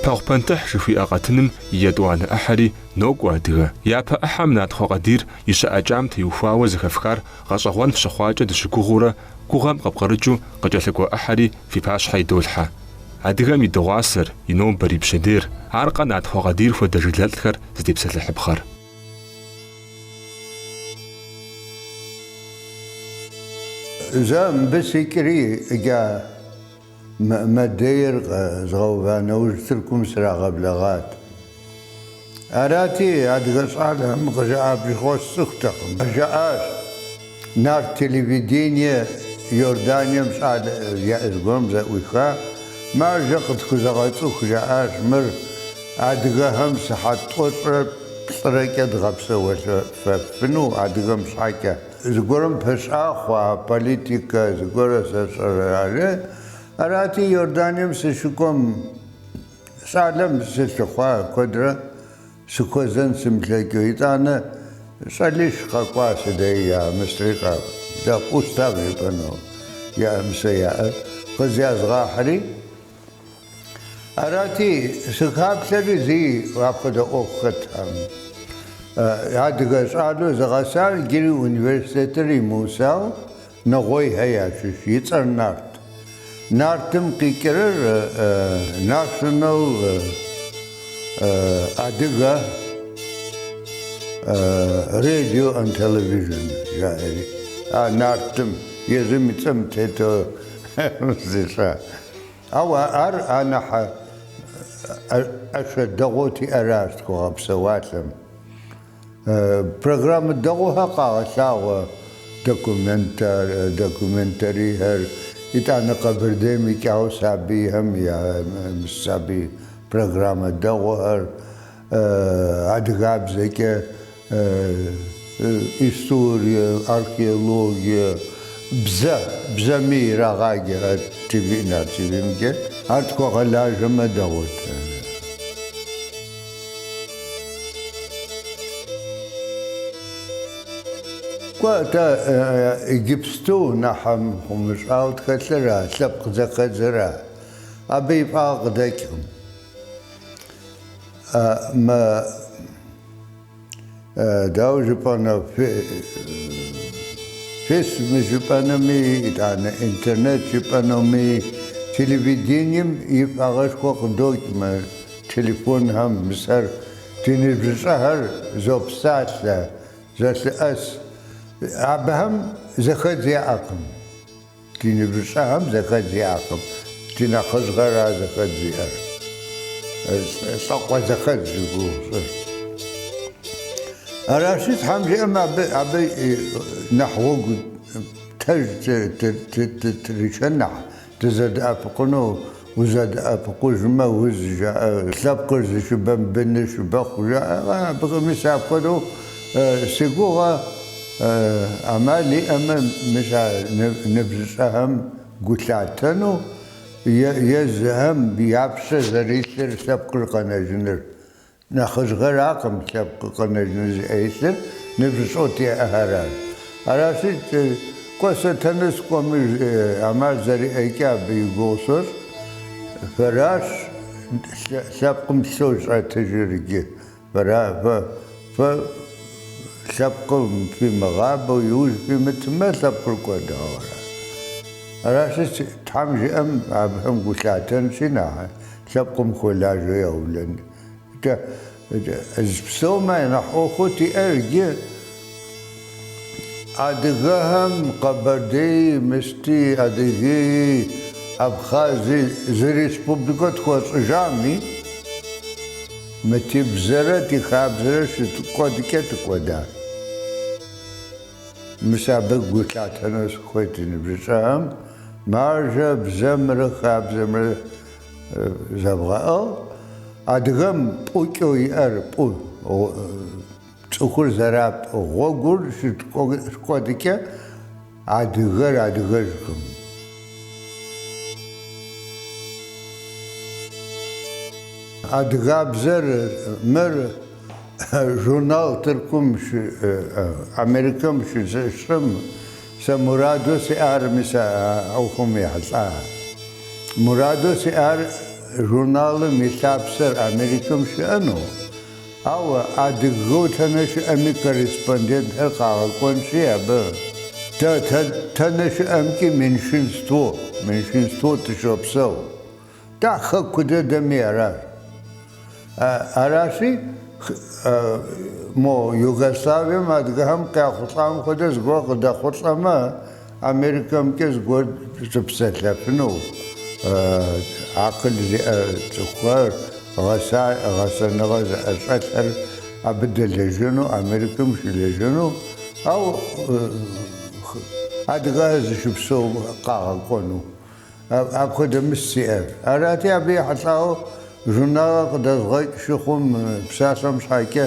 Пэхъу пэнтыхь жыхуиӏэ къэтыным и етӏуанэ ӏыхьэри нокӏуэ адыгэ. Япэ ӏыхьэм Натхъуэ Къадир и щыӏэкӏам теухуауэ зэхэфхар гъэщӏэгъуэн фщыхъуакӏэ дыщыгугъыурэ Гугъэм къыпкъырыкӏыу къыкӏэлъыкӏуэ ӏыхьэри фи пащхьэ идолъхьэ. Адыгэм и дыгъуасэр, и нобэр, и пщэдейр, аркъэ Натхъуэ Къадир хуэдэ жылэлӏхэр зытепсэлъыхьыпхъэр? Зэ мыбы сикӏри, иджа. Мыӏмэдейр къэзгъэува нэужь Тыркум срагъэблэгъат. Арати, адыгэ щӏалэхэм къызжаӏа, абы щыгъуэ сцӏыхутэкъым, жаӏащ Нарт телевидение Иорданием щӏалэ яӏэ зыгуэрым зэӏуиха мажэ къытхузэгъэцӏыху, жаӏащ мыр адыгэхэм сыхьэт тӏощӏрэ плӏырэкӏэ дгъэпсэуэлъэфыну адыгэм щхьэкӏэ. Зыгуэрым пыщӏа хъуа политикэ зыгуэрэ, сэ сщӏэрэ, жари? Арати, Иорданием сыщыкӏуэм, щӏалэм сылъыхъуа куэдрэ сыхуэзэн сымылъэкӏыу. Итӏанэ щӏалищ къэкӏуа си деи я мыстри къэбдэкъу, устав жыпӏэну я мыст яӏэр къызязгъахьри. Арати, сыхаплъэри зи апхуэдэ ӏуэху хэттэкъым. Адыгэ щӏалэу зыгъэсар иджыри университетыр имыухауэ Нэгъуейхэ ящыщ, и цӏэр Нарт. Нартым къикӏырыр National Adiga Radio and Television жаӏэри. А Нартым, езым и цӏэм тету зыщӏа Ауэ ар анэхьэ ӏэщэ дэгъуэу тиӏэращ тхуэгъэпсэуалъэм. Программэ дэгъуэхэр къагъэлъагъуэ документарийхэр. Итӏанэ Къэбэрдейм икӏауэ сабийхэм я сабий программэ дэгъуэхэр адыгабзэкӏэ. Историе, археологие, бзэ, бзэми ирагъаджэ а ТВ-м, а ТВ-мкӏэ ар тхуэгъэлажьэмэ дэгъуэт. Кӏуэ, атӏэ иджыпсту нэхъ мыхъумыщӏэу тхэлъыра, лъэпкъ зэхэдзыра, абы и фӏагъ къыдэкӏкъым. Дауэ жыпӏэнэ, фесми жыпӏэнэми, итӏанэ интернет жыпӏэнэми, телевидением и фӏагъэшхуэ къыдокӏ мы телефонхэм. Мис ар ди ныбжьыщӏэхэр зопсалъэ, зэлъыӏэс. Абыхэм зэхэдз яӏэкъым. Ди ныбжьыщӏэхэм зэхэдз иӏэкъым, ди нэхъыжьхэра зэхэдз зиӏэр, лӏакъуэ зэхэдз зыщӏыр. Аращи, Тхьэм жиӏэм абы нэхъ гъуэгу тэж тыришэн нэхъ дызэдэӏэпыкъуну Узэдэӏэпыкъужмэ, уз жаӏэ, лъэпкъыр зыщыбэм быныр щыбэхъу жаӏэкъэ, абыхэм мис апхуэдэу си гугъэ ӏэмал иӏэмэ, мис а ныбжьыщӏэхэм гу лъатэну езыхэм я пщэ зэрилъыр лъэпкъыр къэнэжыныр Нэхъыжьхэракъым лъэпкъыр къэнэжыну зи ӏэ илъыр, ныбжьыщӏэу тиӏэхэращ. Аращи, кӏуэ сэ тэнэ сыкӏуэми ӏэмал зэриӏэкӏэ абы и гугъу сощӏ. Фэращ лъэпкъым лъэу щӏэтыжыр иджы. Фэра фэ, фэ лъэпкъыр фымыгъэбэу иужь фимытмэ, лъэпкъыр кӏуэдауэ ара. Аращи, Тхьэм жиӏэм абыхэм гу лъатэнщи, нэхъ. Лъэпкъым хуэлажьэу яублэн. Икӏэ, ӏз псомэ я нэхъ ӏуэхуу тиӏэр иджы адыгэхэм Къэбэрдеи, Мысти, Адыгеи, Абхъази зы республикэ тхуэщӏыжами, мы тибзэрэ ди хабзэрэ щыткӏуэдкӏэ тыкӏуэда. Мис абы гу лъатэну сыхуейт ди ныбжьыщӏэхэм маржэ бзэмрэ хабзэмрэ. Зэбгъэӏыгъ, адыгэм пӏукӏэу иӏэр пӏу, цӏыхур зэрапӏ гъуэгур щыткӏуэдыкӏэ адыгэр адыгэжкъым. Адыгабзэр мыр журнал Тыркум, Америкэм щызыщӏым Сэ мураду сиӏар мис а ӏуэхум ехьэлӏа. Мураду сиӏар журналым и лъапсэр Америкэм щыӏэну, ауэ адыгэу тэнэ щыӏэми корреспондентхэр къагъэкӏуэнщи абы. Дэ тэнэ щыӏэмкӏи меньшинству, меньшинству тыщопсэу. Дэ Хэку дэдэми аращ. Аращи, мо Югославием адыгэхэм къяхъулӏам хуэдэ зыгуэр къыдэхъулӏэмэ, Америкэмкӏэ зыгуэр щыпсэлъэфыну акъыл зиӏэ цӏыхухэр, гъэсэныгъэ зыӏэщӏэлъхэр абы дэлэжьэну, Америкэм щылэжьэну, ау адыгэхэр зыщыпсэум къагъэкӏуэну. Апхуэдэ мысль сиӏэт. Арати, абы ехьэлӏауэ журналыр къыдэзгъэкӏ щыхъум, псалъэм щхьэкӏэ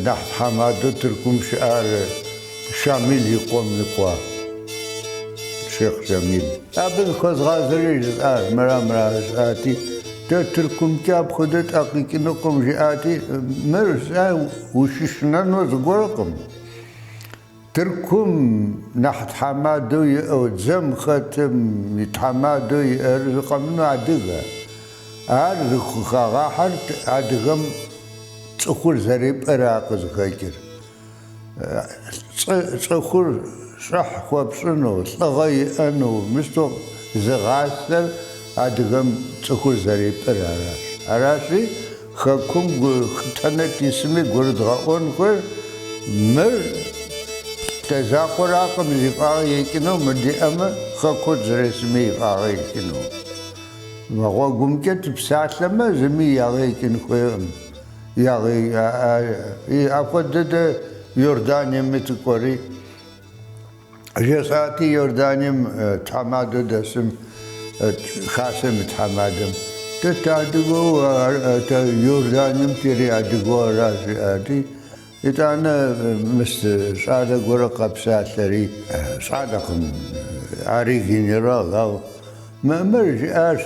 нэхъ тхьэмадэу Тыркум щыӏар Шамил и къуэм и къуэ, Шейх Шамил. Абы зыхуэзгъазэри жысӏащ, мыра мыра жысӏати, дэ Тыркумкӏэ апхуэдэ тӏэ къикӏынукъым жиӏати, мыр сэ ущышынэну зыгуэркъым. Тыркум нэхъ тхьэмадэу иӏэу дзэм хэтым и тхьэмадэу иӏэр зы къэмынэу адыгэ. Ар зыхагъэхьэр адыгэм цӏыхур зэрипӏэра къызыхэкӏыр. Цӏыхур щӏыхь хуэпщӏыну, лӏыгъэ иӏэну, мыщтэу зыгъасэр адыгэм цӏыхур зэрипӏэр аращ. Аращи, Хэкум тэнэ тисми гурыдгъэӏуэн хуейр, мыр дэ закъуэракъым зи фӏагъэ екӏыну, мыр диӏэмэ, хэку дызэрысми и фӏагъэ екӏыну. Мы гъуэгумкӏэ тыпсалъэмэ, зыми ягъэ екӏын хуейкъым. Апхуэдэ дэ Иорданиеми тыкӏуэри. Жесӏати, Иорданием тхьэмадэу дэсым хасэм и тхьэмадэм, Тэ тыадыгэу, Иорданием тери адыгэу ара? жиӏати, итӏанэ мыс щӏалэ гуэрэ къэпсалъэри, щӏалэкъым, ари генерал, ау мыр жиӏащ,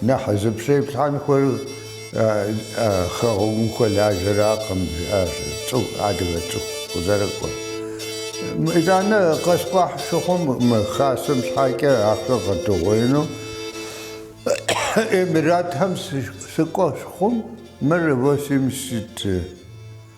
Нэхъ зыпщеплъхьэн хуейр хэгъуэгум хуэлажьэракъым, жиӏащ цӏыху, адыгэ цӏыху къызэрыкӏуэр. Итӏанэ къэскӏуахь щыхъум мы хасэм щхьэкӏэ ахэр къэдугъуеину. Эмиратхэм сыкӏуэ щыхъум, мыр восемьдесят.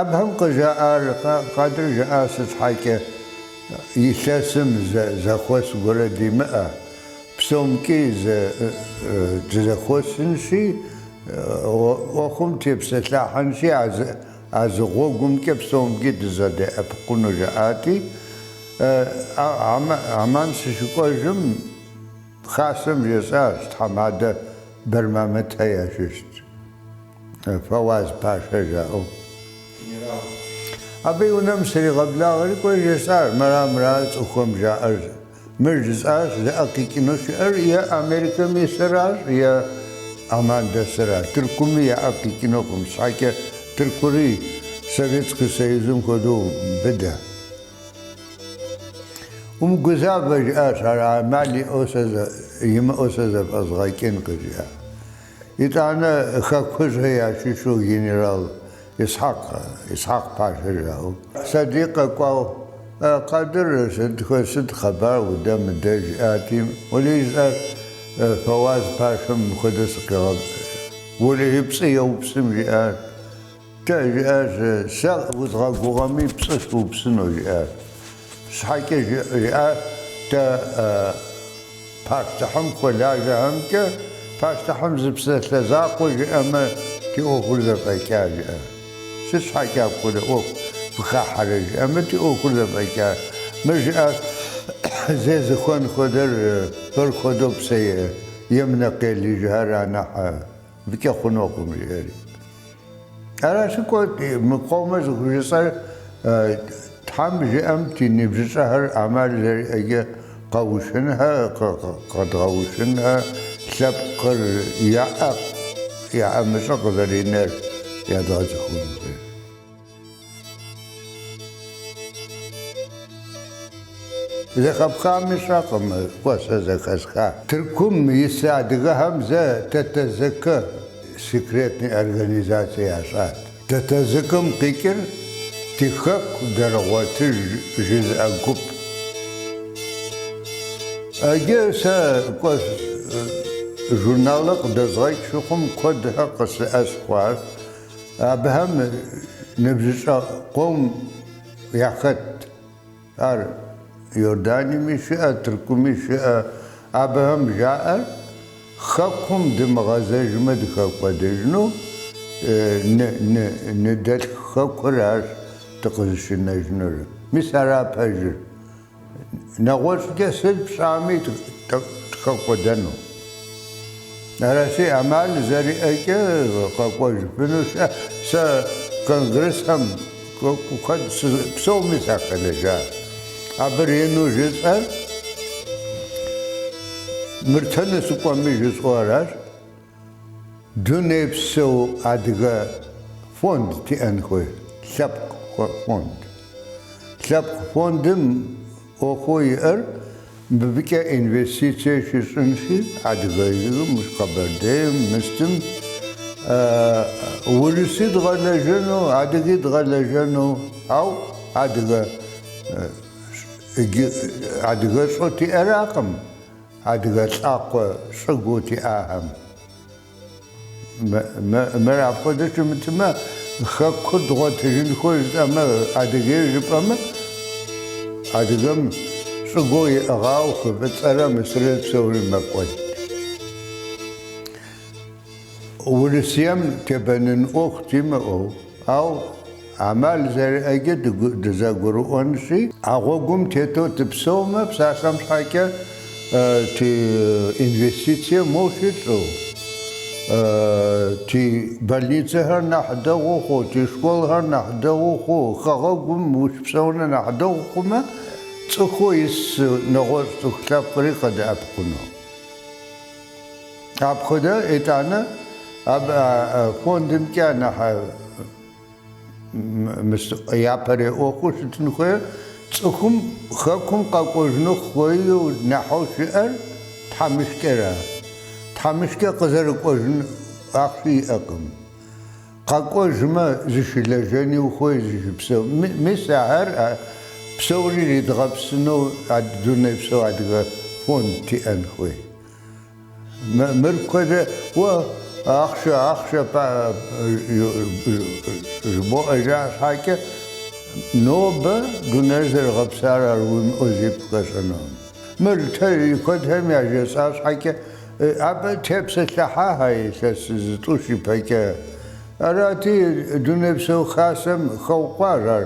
Абыхэм къыжаӏар Къадыр, жаӏащ, сыт щхьэкӏэ илъэсым зэхуэс гуэрэ димыӏэ, псомкӏи дызэхуэсынщи, ӏуэхум тепсэлъыхьынщи, а зы гъуэгумкӏэ псомкӏи дызэдеӏэпыкъуну жаӏати, Аман сыщыкӏуэжым, Хасэм жесӏащ, тхьэмадэ Бэрмамытхэ ящыщт. Фэуаз пашэ жаӏэу. Абы и унэм сригъэблагъэри кӏуэ жесӏащ. Мыра, мыра цӏыхухэм жаӏэр? Мыр жысӏащ, зи ӏэ къикӏыну щыӏэр е Америкэм исыращ, е Аман дэсыращ. Тыркуми я ӏэ къикӏынукъым, щхьэкӏэ Тыркури Советский Союзым хуэдэу быдэ. Умыгузавэ, жиӏащ ар, ӏэмал иӏэу сэ, имыӏэу сэ зэфӏэзгъэкӏын, къыжиӏа. Итӏанэ хэкужьхэр ящыщу генерал Исхьэкъ, Исхьэкъ пашэ жаӏэу, сади къэкӏуауэ, Э, Къадыр, сыт хуэ, сыт хъыбар удэ мыдэ жиӏати, Уэлей жысӏащ, Э, Фэуаз пашэм мыхуэдэ сыкъигъэ, Уэлей пцӏы еупсым жиӏащ. Дэ, жиӏащ, сэ узгъэгугъэми, пцӏы сыупсыну, жиӏащ. Щхьэкӏэ жиӏа дэ пащтыхьым хуэлажьэхэмкӏэ, пащтыхьым зы псалъэ закъуэ жиӏэмэ, ди ӏуэхур зэфӏэкӏа, жиӏащ. Сыт щхьэкӏэ апхуэдэ ӏуэху фыхахьэрэ, жиӏэмэ, ди ӏуэхур зэфӏэкӏа. Мыр жиӏащ, зезыхуэн хуэдэр, фэр хуэдэу псэ емынэ къелыжхэр анахьэ. Быкӏэ хъунукъым, жиӏэри. Аращи, кӏуэ, мы къомэ зыхужысӏэр Тхьэм жиӏэм ди ныбжьыщӏэхэр ӏэмал зэриӏэкӏэ къэушынхэ, къэдгъэушынхэ, лъэпкъыр яӏэ, яӏэмыщӏэ къызэринэр ядгъэцӏыхунхэ. Зэхэпхами сщӏэкъым, кӏуэ сэ зэхэсха. Тыркум ис адыгэхэм зэ ТТЗК секретный организацэ ящӏат. ТТЗК-м къикӏыр Тихэку Даргъуэтыж жызыӏэ гуп. Иджы сэ кӏуэ журналыр къыдэзгъэкӏ щыхъум, куэдхэр къысыӏэщ хъуащ. Абыхэм ныбжьыщӏэ къом яхэтт. Ар Иорданиями щыӏэ, Тыркуми щыӏэ. Абыхэм жаӏэр, Хэкум дымыгъэзэжмэ дыхэкӏуэдэжыну, ны-ны-анэдэлъху хэкур арщ дыкъызыщынэжынур. Мис ара пэжыр. Нэгъуэщӏкӏэ сыт пщӏами дыхэкӏуэдэну. Аращи, ӏэмал зэриӏэкӏэ къэкӏуэжыфыну щыӏэ. Сэ конгрессхэм куэд псоми сахэлэжьащ. Абы ренэу жысӏэр мыр дэнэ сыкӏуэми жысӏэу аращ. Дунейпсо Адыгэ фонд тиӏэн хуей лъэпкъ фонд. Лъэпкъ фондым ӏуэхуу иӏэр мыбыкӏэ инвестицие щищӏынщи, Адыгейм, Къэбэрдейм, мыстым урыси дгъэлэжьэну, адыги дгъэлэжьэну, ау адыгэ щӏыу тиӏэракъым. Адыгэ лӏакъуэ щӏыгуу тиӏахэм. Мыр апхуэдэу щымытмэ, хэкур дгъуэтыжын хуей жысӏэмэ, Адыгейр жыпӏэмэ, адыгэм щӏыгуу иӏыгъау хы Фӏыцӏэрэ Мысыррэ псори мэкӏуэд. Урысием тебэнын ӏуэху димыӏэу, ау ӏэмал зэриӏэкӏэ дызэгурыӏуэнщи, а гъуэгум тетэу дыпсэумэ, псалъэм щхьэкӏэ ти инвестицие моу щытщӏу, ти больницэхэр нэхъ дэгъуу хъуу, ти школхэр нэхъ дэгъуу хъуу, хэгъэгум ущыпсэуныр нэхъ дэгъу хъумэ, цӏыхуу ис нэгъуэщӏ цӏыху лъэпкъри къыдэӏэпыкъуну. Апхуэдэ итӏанэ абы а фондымкӏэ анахь япэрей ӏуэхуу щытын хуейр цӏыхум Хэкум къэкӏуэжыну хуейу нэхьэу щыӏэр тхьэмыщкӏэра? Тхьэмыщкӏэ къызэрыкӏуэжын ахъши иӏэкъым. Къэкӏуэжмэ, зыщылэжьэни ухуей зыщыпсэу. Мис ахэр псори иридгъэпсыну дунейпсо Адыгэ фонд тиӏэн хуей. Мыр куэдрэ уэ ахъшэ, ахъшэ пӏа жыбоӏэ жаӏа щхьэкӏэ, нобэ дунейр зэрыгъэпсар ар уимыӏэу зи пхуэщӏэнукъым. Мыр ти куэдхэм яжесӏа щхьэкӏэ. Абы тепсэлъыхьахэ илъэс зытӏущ ипэкӏэ. Арати, Дунейпсо Хасэм хэукъуащ ар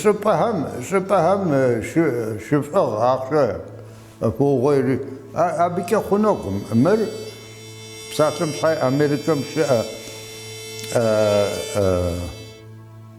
щӏыпӏэхэм, щӏыпӏэхэм щыфӏыгъ ахъшэ фоугъуейри. Абыкӏэ хъунукъым мыр псалъэм щхьэ Америкэм щыӏэ.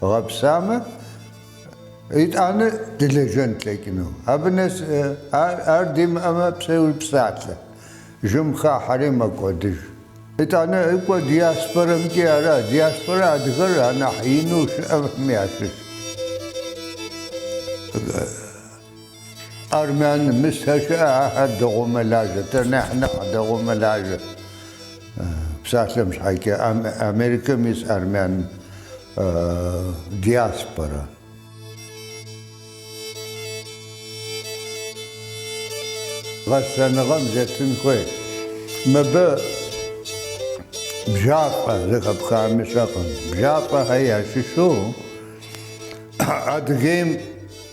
Гъэпсамэ, итӏанэ дылэжьэн тлъэкӏыну. Абы нэс ар димыӏэмэ, псэуи псалъэ жьым хахьэри мэкӏуэдыж. Итӏанэ кӏуэ диаспорэмкӏи ара? Диаспорэ адыгэр анахь ину щыӏэхэм ящыщщ. Армян мысэ щыӏэ, ахэр дэгъуэу мэлажьэ, дэр нэхь нэхъ дэгъуэу мэлажьэ. Псалъэм щхьэкӏэ Америкэм ис армян диаспорэ. Гъэсэныгъэм зетын хуей. Мыбы Бжьапӏэ зэхэпхами сщӏэкъым. Бжьапӏэхэр ящыщу Адыгейм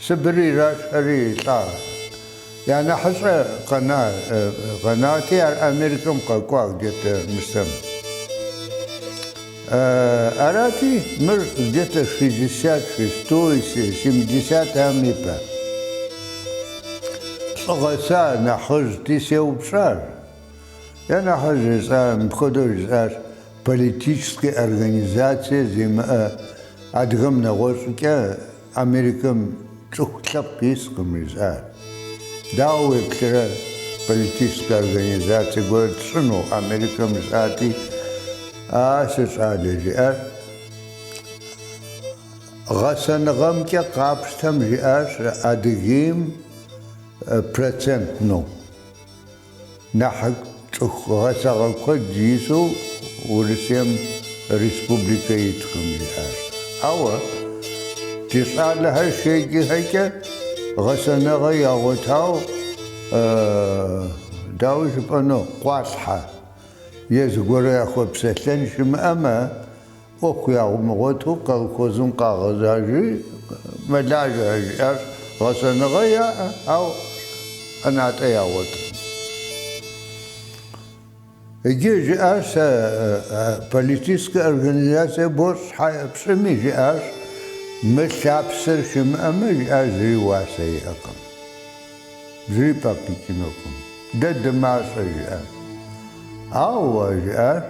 Сыбыр ирашэхэри лӏа. Я нэхьыщӏэ къэна, къэнати, ар Америкэм къэкӏуа где-то нысэм. Арати, мыр где-то шестьдесят шестой, семидесятэхэм и пэ. Лӏы гъэса, нэхъыжьти сеупщӏар. Я нэхъыжь жысӏа, мыпхуэдэу жысӏащ, политическэ организацие зимыӏэ адыгэм нэгъуэщӏкӏэ Америкэм цӏыху лъэпкъ искъым, жысӏат. Дауэ уеплърэ, политическэ организацэ гуэр тщӏыну Америкэм, жысӏати, А, си щӏалэ, жиӏащ, гъэсэныгъэмкӏэ къапщтэм, жиӏащ Адыгейм процентну. Нэхъ цӏыху гъэсагъэ куэд ису Урысейм республикэ иткъым жиӏащ. Ауэ ди щӏалэхэр щеджэхэкӏэ гъэсэныгъэ ягъуэтау, дауэ жыпӏэну, къуалъхьэ е зыгуэру яхуэпсэлъэн щымыӏэмэ, ӏуэху ямыгъуэту колхозым къагъэзажи, мэлажьэ жиӏащ, гъэсэныгъэ яӏэ, ау ӏэнатӏэ ягъуэтыркъым. Иджы жиӏащ, сэ политическэ организацие бощӏ щхьэ пщӏыми, жиӏащ, мы лъапсэр щымыӏэмэ, жиӏащ, зыри уасэ иӏэкъым, зыри пӏэкъикӏынукъым, дэ дымащӏэ, жиӏащ. Ауэ, жиӏащ.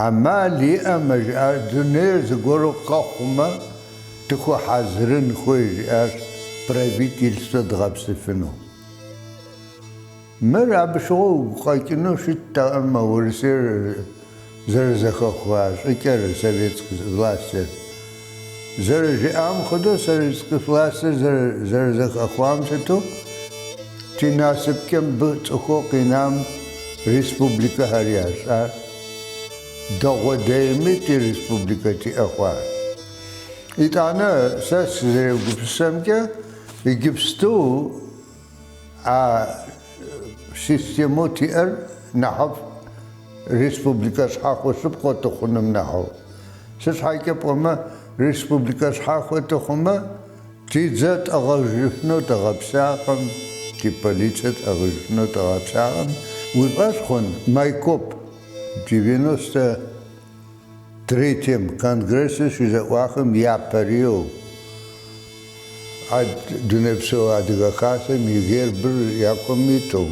Амал иӏэмэ, жиӏар, дунейр зыгуэру къэхъумэ, дыхуэхьэзырын хуей, жиӏащ правительствэ дгъэпсыфыну. Мыр абы щыгъуэ уигу къэкӏыну щыттэкъым мы Урысейр зэрызэхэхуа щӏыкӏэр, советск властыр. Зэрыжиӏам хуэдэу, советск властыр зэрызэхэхуам сыту, ди насыпкӏэ мыбы цӏыхуу къинам республикэхэр ящӏар, дэгъуэ дейми ди республикэ диӏэ хъуар. Итӏанэ сэ сызэрегупсысэмкӏэ, иджыпсту, А системэу тиӏэр нэхъыфӏ республикэ щхьэхуэ лъэпкъыу тыхъуным нэхьу. Сыт щхьэкӏэ пӏэмэ, республикэ щхьэхуэ тыхъумэ, ти дзэ тӏыгъыжыфыну тыгъэпсакъым, ти полицэ тӏыгъыжыфыну тыгъэпсакъым. Уи фӏэщ хъун Майкоп девяностэ Третьем конгрессыр щызэӏуахым япэрейуэ а Дунейпсо Адыгэ Хасэм и гербыр якум иту,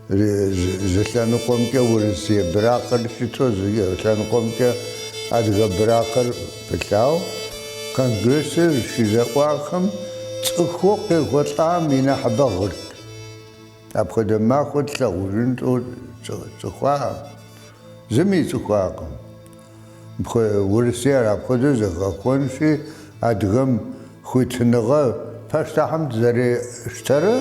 зы лъэныкъуэмкӏэ урысей быракъыр щыту, зы лъэныкъуэмкӏэ адыгэ быракъыр пылъау, конгрессыр щызэӏуахым цӏыхуу къехьэлӏам и нэхьыбэр гъырт. Апхуэдэ махуэ тлъагъужын тӏэу тцӏыхуакъым, зыми ицӏыхуакъым. Урысейр апхуэдэу зэхэхуэнщи, адыгэм хуитыныгъэ пащтыхьым тызэрищтэрэ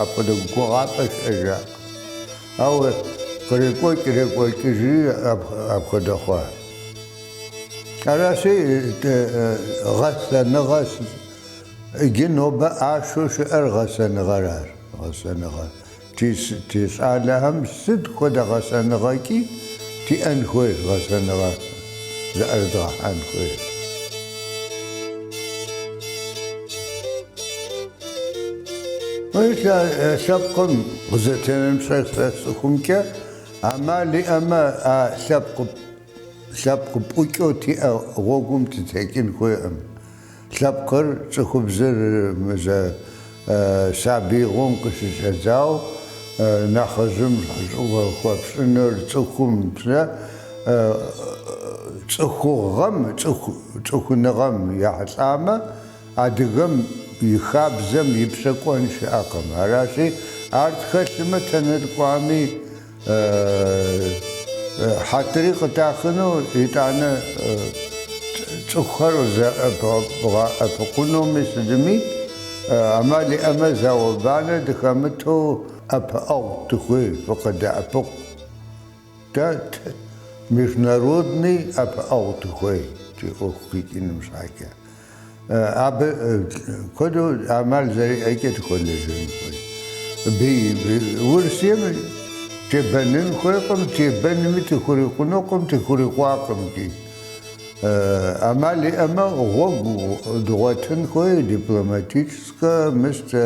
апхуэдэ гугъапӏэ щыӏэжакъым. Ауэ кърекӏуэкӏрекӏуэкӏыжри апхуэдэ хъуа. Аращи, гъэсэныгъэ Иджы нобэ ӏашэу щыӏэр гъэсэныгъэращ. Гъэсэныгъэ. Ти щӏалэхэм сыт хуэдэ гъэсэныгъэкӏи тиӏэн хуейщ, гъэсэныгъэ зыӏэрыдгъэхьэн хуейщ. Мис а лъэпкъым къызэтенэн пщӏэсрэ цӏыхумкӏэ ӏэмал иӏэмэ, а лъэпкъ пӏукӏэу тиӏэ гъуэгум тытекӏын хуейкъым. Лъэпкъыр цӏыхубзыр мызэ сабиигъуэм къыщыщӏэдзауэ нэхъыжьым щӏыхь хуэпщӏыныр цӏыхум псэ цӏыхугъэм, цӏыхуныгъэм ехьэлӏамэ, адыгэм и хабзэм и пщэ кӏуэн щыӏэкъым. Аращи, ар тхэлъмэ, тэнэ тыкӏуами, Хьэтыри къытахыну, итӏанэ цӏыхухэр зэӏэпыкъунуми сытми ӏэмал иӏэмэ, зауэ-банэ дыхэмыту ӏэпыӏэгъу тыхуей, фыкъыдэӏэпыкъу. Дэ международный ӏэпыӏэгъу тыхуей, ти ӏуэху къикӏыным щхьэкӏэ. Абы куэду ӏэмал зэриӏэкӏэ тыхуэлэжьэн хуей. Урысейм тебэнын хуейкъым, тебэнми тыхурикъунукъым, тыхурикъуакъым икӏи. ӏэмал иӏэмэ, гъуэгу дгъуэтын хуей, дипломатическэ, мыстэ.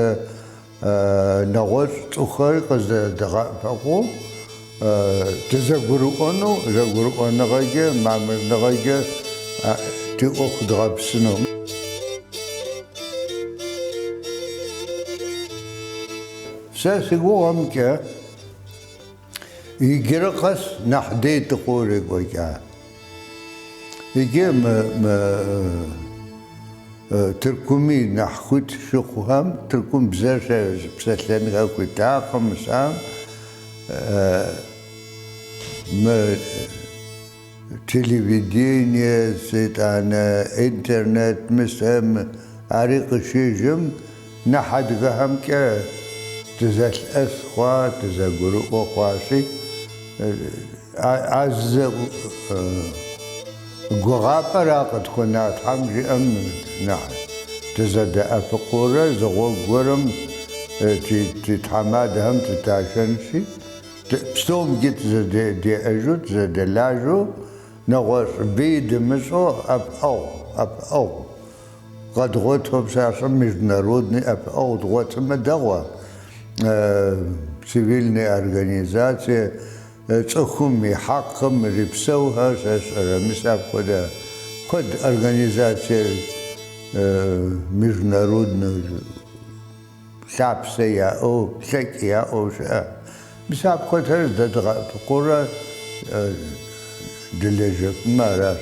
нэгъуэщӏ цӏыхухэр къызэдгъэӏэпыкъуу дызэгурыӏуэну, зэгурыӏуэныгъэкӏэ, мамырныгъэкӏэ ди ӏуэху дгъэпсыну. Сэ си гугъэмкӏэ. Иджыри къэс нэхъ дей дыхъурэ екӏуэкӏа. Иджы мы Тыркуми нэхъ хуит щыхъухэм, Тыркум бзэр щыпсэлъэнхэ хуитакъым, исам мы Телевидение, итӏанэ интернет мысэм ари къыщежьэм нэхъ адыгэхэмкӏэ дызэлъэӏэс хъуа, дызэгурыӏуэ хъуащи, а зы гугъапӏэра къытхуэна Тхьэм жиӏэм нэхъ дызэдэӏэпыкъуурэ, зы гъуэгу гуэрым ди тхьэмадэхэм дыташэнщи, Псомкӏи тызэдеӏэжу, тызэдэлажьэу, нэгъуэщӏ бий дымыщӏэу ӏэпыӏэгъу, ӏэпыӏэгъу къэдгъуэту, псалъэм международный ӏэпыӏэгъу дгъуэтымэ дэгъуэ, цивильный организацие цӏыхум и хьэкъым ирипсэухэр щыщӏрэ? Мис апхуэдэ куэд организацие международнэу Лъапсэ яӏэу, лъэкӏ яӏэу щыӏэ. Мис апхуэдхэр здэдгъэӏэпыкъурэ дылэжьэфымэ аращ.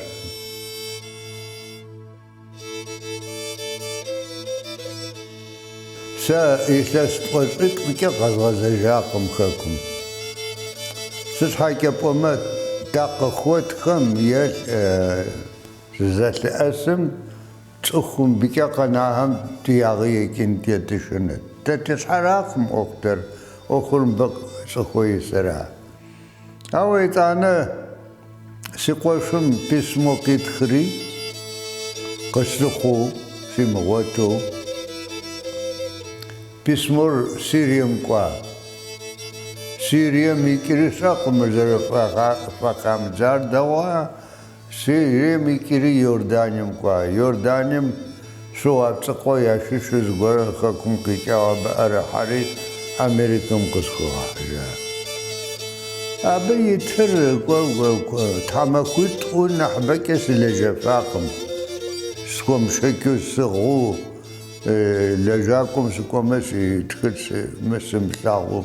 Сэ илъэс тӏощӏитӏымкӏэ къэзгъэзэжакъым Хэкум. Сыт щхьэкӏэ пӏомэ, дакъыхуэтхэм е дызэлъэӏэсым Цӏыху мыбыкӏэ къэнахэм ди ягъэ екӏын дытешынэт. Дэ ди щхьэракъым ӏуэхутэр, ӏуэхур мыбы цӏыхуэ исыра. Ауэ итӏанэ си къуэшым письмо къитхри, къыслъыхъуу симыгъуэту, письмор Сирием кӏуа. Сирием икӏри сщӏэкъым, зэрыхыфӏамыдзар дэгъуа. Сирием икӏри Иорданием кӏуа. Иорданием щыгъуэ ацӏыкъуэ ящыщу зыгуэрыр Хэкум къикӏауэ абы ӏэрыхьэри Америкэм къысхуигъэхьыжа. Абы итыр тхьэмахуитӏу нэхъыбэкӏэ сылэжьэфакъым. Схуэмышэчу сыгъыу лэжьакӏуэм сыкӏуэмэ, сытхыт мы сымылъагъуу.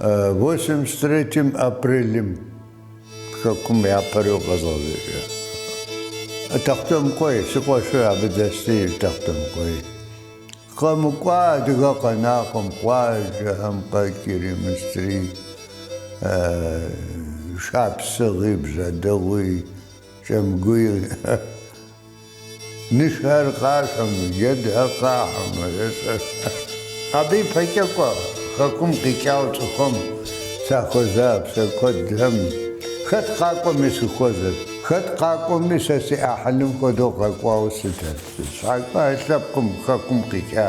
Восемьдесят третьим апрелым хэкум япэрэу къэзгъэзэжа. Тэхъутэмыкъуей, си къуэшыр абы дэсти Тэхъутэмыкъуей. Къэмыкӏуа адыгэ къэнакъым, къуажэхэм къикӏри, мыстри, шапсыгъи, бжьэдыгъуи, кӏэмгуи. Нышхэр къашэмэ, джэдхэр къахьэмэ, ээ. Абы и пэкӏэ кӏуэ, хэкум къикӏауэ цӏыхухэм сахуэза псэ куэдхэм. Хэт къакӏуэми сыхуэзэт, хэт къакӏуэми сэ си ӏыхьлым хуэдэу къэкӏуауэ сытэт. Сыт щхьэкӏэ лъэпкъым хэкум къикӏа,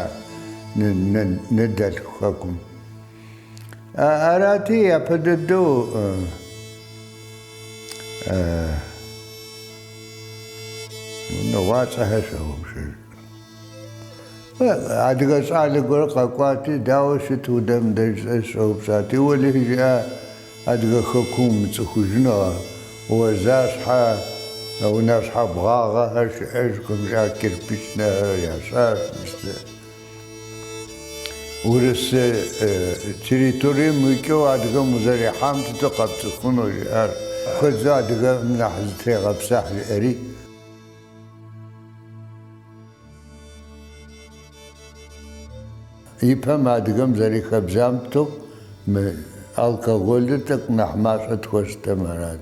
ны-ны-ныдэлъху хэкум. Арати, япэ дэдэу унагъуэцӏэхэр сщогъупщэж. Адыгэ щӏалэ гуэр къэкӏуати, дауэ щыт удэм деж щӏэупщӏати. Уэлэхьи жиӏа адыгэ хэкум умыцӏыхужыну, уэзащхьэ унащхьэ бгъагъэхэр щыӏэжкъым, жиӏа кирпичнэхэр ящӏащ. Урыс территорием уикӏыу адыгэм узэрихьам тету къэпцӏыхуну жиӏар. Куэдкӏэ адыгэм нэхъ зытрегъэпсыхь жиӏэри. Ипэм адыгэм зэрихабзэм тету мы алкоголыр тӏэкӏу нэхъ мащӏэ тхуэщытэмэ арат.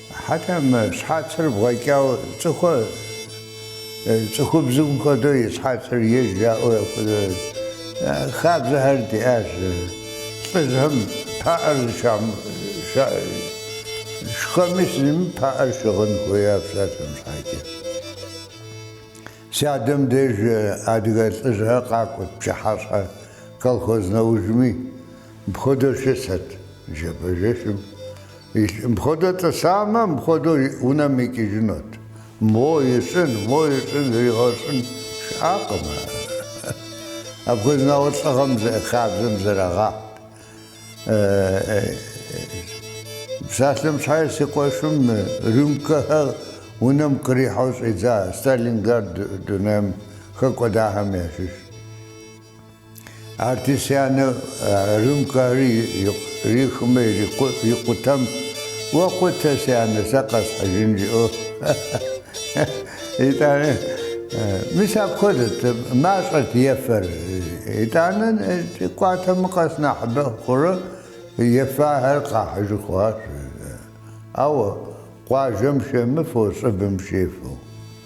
Хьэтӏэ мы щхьэцыр бгъэкӏауэ цӏыху- цӏыхубзым хуэдэу и щхьэцыр ежь жаӏэу апхуэдэу хабзэхэр диӏащ. Лӏыжьхэм паӏэр шхэми зыми паӏэр щыгъын хуея псалъэм щхьэкӏэ. Си адэм деж адыгэ лӏыжьхэр къакӏуэт пчыхьэщхьэ колхоз нэужьми. Мыпхуэдэу щысэт жэбэжэщым. Мыпхуэдэу тӏысамэ, мыпхуэдэу унэм икӏыжынут. Мо ищӏын, мо ищӏын, зригъэщӏын щыӏакъым. Апхуэдэ нэхъыфӏ лӏыгъэм зы хабзэм зэрагъэхьт. Псалъэм щхьэи си къуэшым рюмкэхэр унэм кърихьэу щӏидза Сталинград дунейм хэкӏуэдахэм ящыщ. Арати си анэ рюмкэхэр ирихмэ икъутэм, Уэ къутэ, си анэ, сэ къэсхьыжын, жиӏэу. Итӏанэ, мис апхуэдэт, мащӏэт ефэр. Итӏанэ кӏуатэмэ къэс нэхъыбэ хъурэ ефахэр къахьыжу хъуащ. Ауэ къуажэм щемыфэу, щӏыбым щефэу.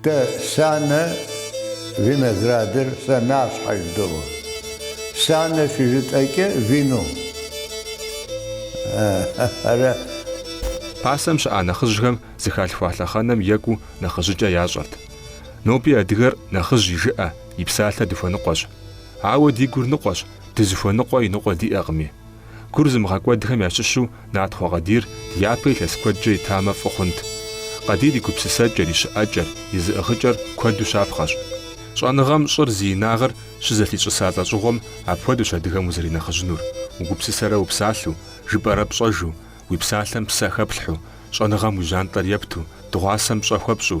Дэ санэ виноградыр сэнащхьэ жыдоӏэ. Санэ щыжытӏэкӏэ вино. Ара? Пасэм щыӏа нэхъыжьхэм зыхалъхуа лъэхъэнэм екӏуу нэхъыжьыкӏэ ящӏэрт. Ноби адыгэр нэхъыжь и жыӏэ, и псалъэ дыхуэныкъуэщ. Ауэ ди гур ныкъуэщ, дызыхуэныкъуэ и ныкъуэ диӏэкъыми. Гур зымыгъэкӏуэдхэм ящыщу Натхъуэ Къадир ди япэ илъэс куэдкӏэ итамэ фӏы хъунт. Къадир и гупсысэкӏэр, и щыӏэкӏэр, и зыӏыгъыкӏэр куэду щапхъэщ. Щӏэныгъэм щӏыр зи инагъыр щызэлъищӏыса лӏэщӏыгъуэм апхуэдэущ адыгэм узэринэхъыжьынур, угупсысэрэ упсалъэу, жыпӏэрэ пщӏэжу, уи псалъэм псэ хэплъхьу, щӏэныгъэм уи жьантӏэр епту, дыгъуасэм пщӏэ хуэпщӏу,